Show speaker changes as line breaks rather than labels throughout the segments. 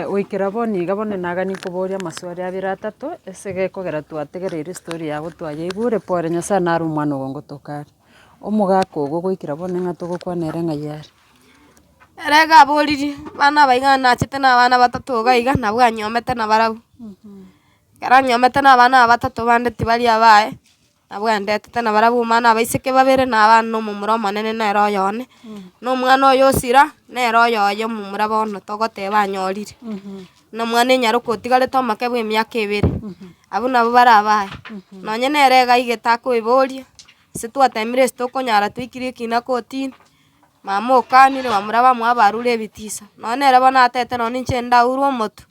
goikera bono iga bono nagani koboria amaswali abere atato, ase gekogera twategereire story yago twayeigure pore nyasae naro omwana ogo ngotoka are. Omogaka ogo goikera bono ng'a togokwana ere ng'a yare. Ere iga aboririe, abana aba iga nachete na abana batato iga iga nabo anyomete na barabwo, ekero anyomete na abana aba batato bande tibari abaye. Nabo agenderete nabarabwo omwana abaiseke babere na abana na omomura omonene nere oyo one, na omwana oyo o Sira nere oyo oye omomura bono togoteba anyorire, na omwana enyaroka otigarete omoke bw'emiaka ebere. Abwo nabo bare abaye, nonye nere iga iga etakoiboria, ase twateemire ase tokonyara twaikire ekina kotini, mama okaanire bamura bamwabo arure ebitiso, nonye nere bono atete nonye inche ndaurwe omotu.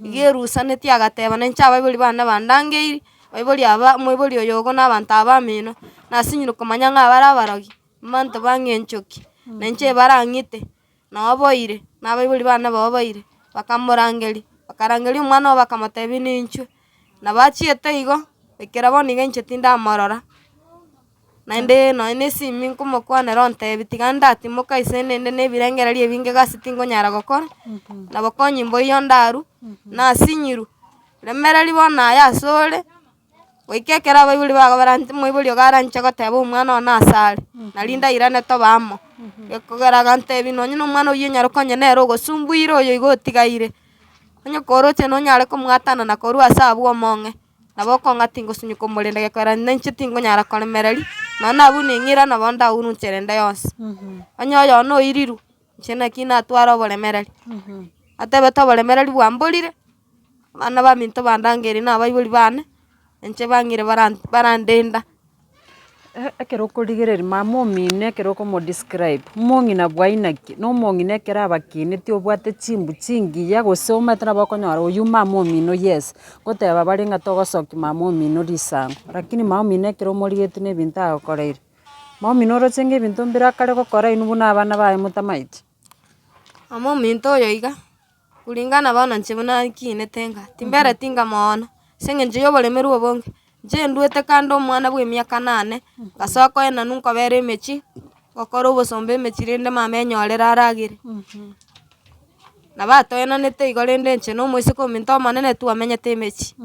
Iga erusanetie agateba, Nainche abaibori bane bandangeirie, baibori aba, omoibori oyogo na abanto aba bamino, nasinyire komanya ng'a bare abarogi, mbanto bang'e enchoki, na inche ebara ng'ite, na oboire, na abaibori bane nabo oboire. Bakamorangeria, bakarangeria omwana obo bakamotebi ninchwe. Nabo achiete igo, ekero bono iga inche tindamorora, naende nonye na esimi nkomokwanera ontebi tiga ndatimoka ase ninde na ebirengererio ebinge egasi tingonyara gokora, nabo konyimboyia ondaru, nasinyirwe. Remereri bono aye asore, goika ekero abaibori bagoberaneti omoibori iga aranche goteba omwana one ase are, nari ndairane tobe amo, ekogera agantebi nonye na omwana oyio onyarokonya nere ogosumbuire oyo iga otigaire. Onye koroche nonyare komwatana na korwa ase abwo omong'e, nabo okong'a tingosunyuka omorembe gekoerania na inche tingonyara koremereria, nonye nabwo ning'ira nabo ndaurunchere ende yonsi. Onye oyono oiriru, inche naki natware oboremereri, atebete oboremereri bwa mborire, abana baminto bandangerie nabaibori bane. Inche bang'ire barandenda. Ekero okorigereria mama omino ekero okomodescribe, omong'ina bwaino ki? Na omong'ina ekero abakenetie obwate chimbu chingiya gose omanyete nabo okonyora oyio mama omino yes, goteba bare ng'a togosokia mama omino risango. Lakini mama omino ekero omorigetie na ebinto agokoreire, mama omino oroche ng'a ebinto mbire akare gokora inwe buna abana baye motamaeti. Mama ominto oyo iga, Kuringana bono inche buna nkiinete ng'a timbereti inga moono, ase engencho y'oboremeru obonge, inche nduete kando omwana bw'emiaka nane, ngasoa koenanu nkobera emechie, gokora obosomba emechie rende mama enyorere aragere. Nabo atoenanete igo rende inche na omoiseke ominto omonene twamenyete emechie.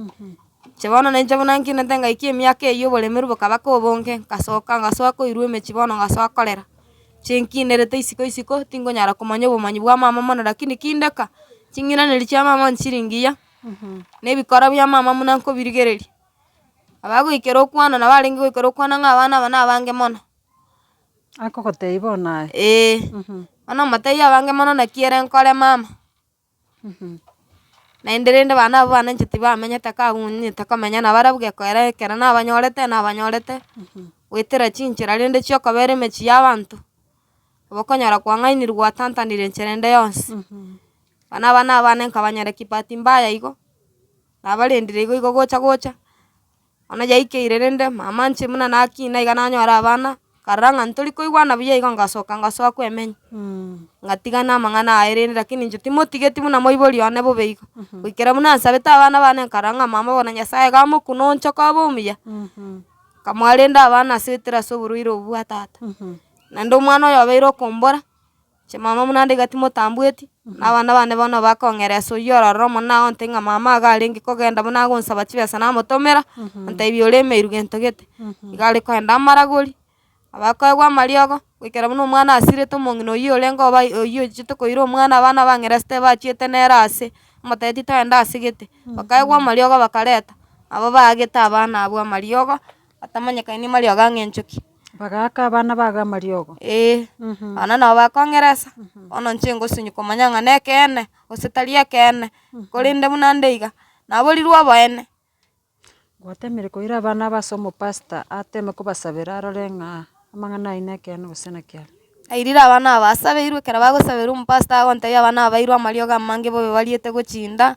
Inche bono nainche buna nkinete ngaikia emiaka eyio oboremeru bokaba kobonge, ngasoka ngasoa koirwa emechie bono ngasoa korera. Inche nkinerete isiko isiko tingonyara komanya obomanyi bwa mama mono lakini kindeka, ching'iranerio chia mama nchire ngiya, na ebikora bia mama buna nkobirigereria. Abagoikera okwana nabo arenge goikera okwana ng'a abana aba nabange mono. Akogotebi bono aye? Eeh. Bono omotebia abange mono naki ere nkore mama. Naende rende abana abwo bananche tibamenyete kaa abanyete komenya nabo ara bwekoera ekero nabanyorete nabanyorete, goetera chinchera rende chiokobera emechie y'abanto, nabo okonyora kwang'ainirwe gwatantanire enchera ende yonsi, buna abana abana nkabanyereki bahati mbaya igo, nabarendire igo igo gocha gocha. Onye yaikeire rende, mama inche buna naki na iga nanyore abana, nkarora ng'a ntori koigwana buya igo ngasoka ngasoa kwemenya, ngatiga namang'ana aye rende, lakini inche timotigeti buna moibori one bobe igo. Goikera buna nsabete abana bane nkarora ng'a mama bono Nyasaye iga amokune onchoke obe omuya, nkamoa rende abana asibetire ase oborwaire obwo bwa tata, naende omwana oyo obeire okombora. Chimama buna nde iga timotambweti, na abana bane bono bakong'era ase oyio ororo omonene ao onte ng'a mama iga arenge kogenda buna agonsaba chibesa namotomera, ontebi ore emeiru gento gete, iga are koenda amaragori, abakoegwa amariogo, goikera buna omwana asirete omong'ina oyio orenge oba oyio ochiete koira omwana abana bang'erese tebachiete nere ase, amotebia titoenda ase gete, bakaegwa amariogo bakareta, nabo baagete abana abwo amariogo. Atamanyekani mariogo ang'e enchoki. Bagaaka abana bago amariogo. Ee, abana nabo bakong'eresa, bono inche ngosunywa komanya ng'a nekeene, gose tari ekeene, korende buna nde iga, naborirwe oboene. Gwatemire koira abana aba ase omopastor ateme kobasabera arore ng'a amang'ana ayio nekeene gose nakiaga. Nairire abana aba basabeirwe, ekero bagosaberwa omopastor agontebia abana aba bairwe amariogo amange bobe bariete gochinda,